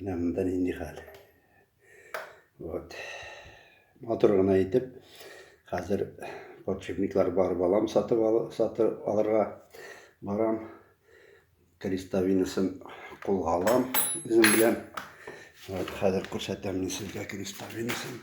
Менә монда нинди хәл. Вот. Матур гына итеп, хәзер подшипниклар бар балам сатып, ал, сатып алырга барам. Крестовинасын кулга алам үзем белән. Вот, хәзер күрсәтәм мин сезгә крестовинасын.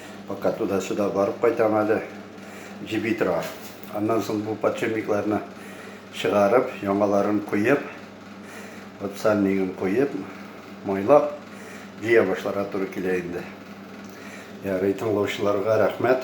Пока туда-сюда барып кайтам әле, җеби тора. Аннан соң бу подшипникларны чыгарып, яңаларын куеп, вот сальнигын куеп, майлап җыя башларга туры килә инде. Ярый, тыңлаучыларга рәхмәт.